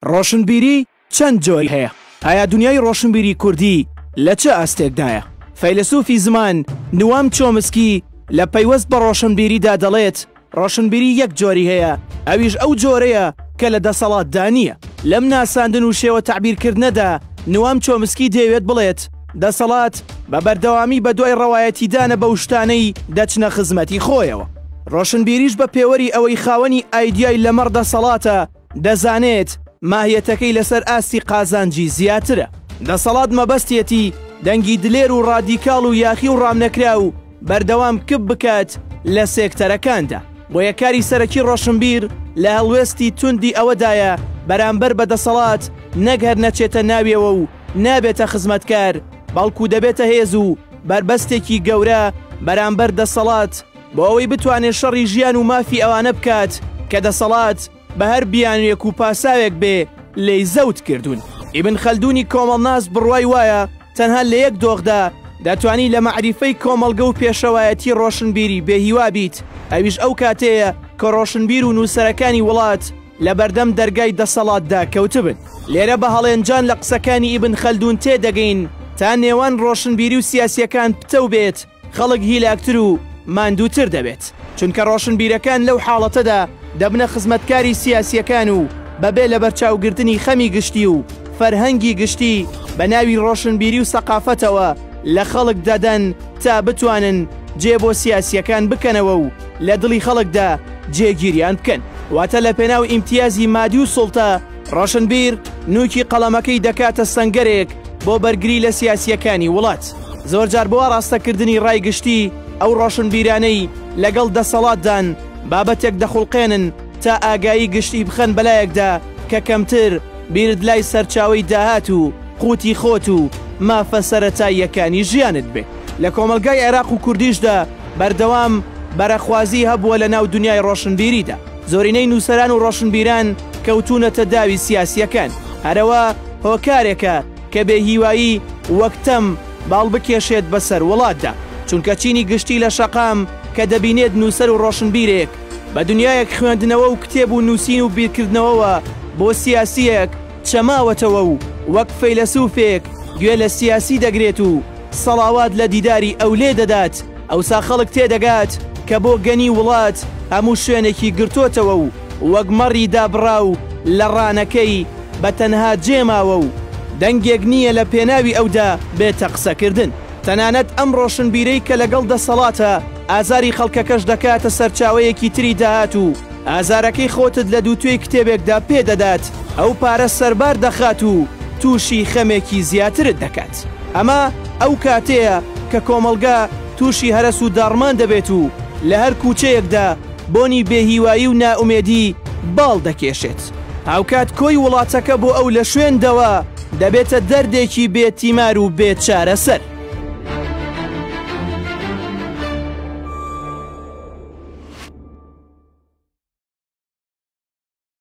ڕۆشنبیری چەند جۆر هەیە؟ ئایا دونیای ڕۆشنبیری کوردی لە چ ئاستێکدایە؟ فەیلەسوفی زمان نوام چۆمسکی لە پەیوەست بە ڕۆشنبیریدا دەڵێت، ڕۆشنبیری یەک جۆری هەیە، ئەویش ئەو جۆرەیە کە لە دەسەڵاتدا نییە. لەم ناساندن و شێوە تەعبیرکردنەدا نوام چۆمسکی دەیەوێت بڵێت، دەسەڵات بە بەردەوامی بەدوای ڕەوایەتیدانە بەو شتانەی دەچنە خزمەتی خۆیەوە. ڕۆشنبیریش بە پێوەری ئەوەی خاوەنی ئایدیای لەمەڕ دەسەڵاتە، دەزانێت ماهیەتەکەی لەسەر ئاستی قازانجی زیاترە. دەسەڵات مەبەستیەتی دەنگی دلێر و ڕادیکاڵ و یاخی و ڕامنەکراو بەردەوام کپ بکات لە سێکتەرەکاندا. بۆیە کاری سەرەکی ڕۆشنبیر لە هەڵوێستی توندی ئەوەدایە بەرامبەر بە دەسەڵات نەک هەر نەچێتە ناویەوە و نابێتە خزمەتکار، بەڵکو دەبێتە هێز و بەربەستێکی گەورە بەرامبەر دەسەڵات، بۆ ئەوەی بتوانێت شەڕی ژیان و مافی ئەوانە بکات کە دەسەڵات بە هەر بیانوێک و پاساوێک بێ لێی زەوت کردوون. ئیبن خەلدونی کۆمەڵناس بڕوای وایە تەنها لە یەک دۆخدا دەتوانی لە مەعریفەی کۆمەڵگە و پێشەوایەتی ڕۆشنبیری بێهیوا بیت، ئەویش ئەو کاتەیە کە ڕۆشنبیر و نووسەرەکانی وڵات لە بەردەم دەرگای دەسەڵاتدا کەوتبن. لێرە بە هەڵێنجان لە قسەکانی ئیبن خەلدون تێدەگەین تا نێوان ڕۆشنبیری و سیاسییەکان پتەو بێت، خەڵک هیلاکتر و ماندووتر دەبێت چونکە ڕۆشنبیرەکان لەو حاڵەتەدا دەبنە خزمەتکاری سیاسیەکان و بەبێ لە بەرچاوگرتنی خەمی گشتی و فەرهەنگی گشتی بە ناوی ڕۆشنبیری و سەقافەتەوە لە خەڵک دەدەن تا بتوانن جێ بۆ سیاسیەکان بکەنەوە و لە دڵی خەڵکدا جێگیریان بکەن واتە لە پێناو ئیمتیازی مادی و سوڵتە ڕۆشنبیر نووکی قەڵەمەکەی دەکاتە سەنگەرێک بۆ بەرگری لە سیاسییەکانی وڵات، زۆرجار بۆ ئاڕاستەکردنی ڕای گشتی ئەو ڕۆشنبیرانەی لەگەڵ دەسەڵاتدان بابەتێک دەخوڵقێنن تا ئاگایی گشتی بخەن بەلایەکدا کە کەمتر بیرت لای سەرچاوەی داهات و قوتی خۆت و مافە سەرەتاییەکانی ژیانت بێ. لە کۆمەڵگای عێراق و کوردیشدا بەردەوام بەرەخوازی هەبووە لەناو دنیای ڕۆشنبیریدا. زۆرینەی نووسەران و ڕۆشنبیران کەوتوونەتە داوی سیاسییەکان، هەرەوە هۆکارێکە کە بێهیوایی وەک تەم باڵ بکێشێت بەسەر وڵاتدا، چونکە چینی گشتی لە شەقام کە دەبینێت نووسەر و ڕۆشنبیرێک بە دنیایەک خوێندنەوە و کتێب و نووسین و بیرکردنەوەوە بۆ سیاسییەک چەماوەتەوە و وەک فەیلەسوفێک گوێ لە سیاسی دەگرێت و سەڵاوات لە دیداری ئەولێ دەدات ئەوسا خەڵک تێدەگات کە بۆگەنی وڵات هەموو شوێنێکی گرتۆتەوە و وەک مەڕی دابڕاو لە ڕانەکەی بە تەنها جێ ماوە و دەنگێک نییە لە پێناوی ئەودا بێتە قسەکردن. تەنانەت ئەم ڕۆشنبیرەی کە لەگەڵ دەسەڵاتە ئازاری خەڵکەکەش دەکاتە سەرچاوەیەکی تری داهات و ئازارەکەی خۆتت لە دووتوێی کتێبێکدا پێ دەدات ئەو پارە سەربار دەخات و تووشی خەمێکی زیاترت دەکات. ئەمە ئەو کاتەیە کە کۆمەڵگە تووشی هەرەس و داڕمان دەبێت و لە هەر کووچەیەکدا بۆنی بێهیوایی و نائومێدی باڵ دەکێشێت. هاوکات کۆی وڵاتەکە بۆ ئەو لە شوێن دەوە دەبێتە دەردێکی بێ تیمار و بێ چارەسەر.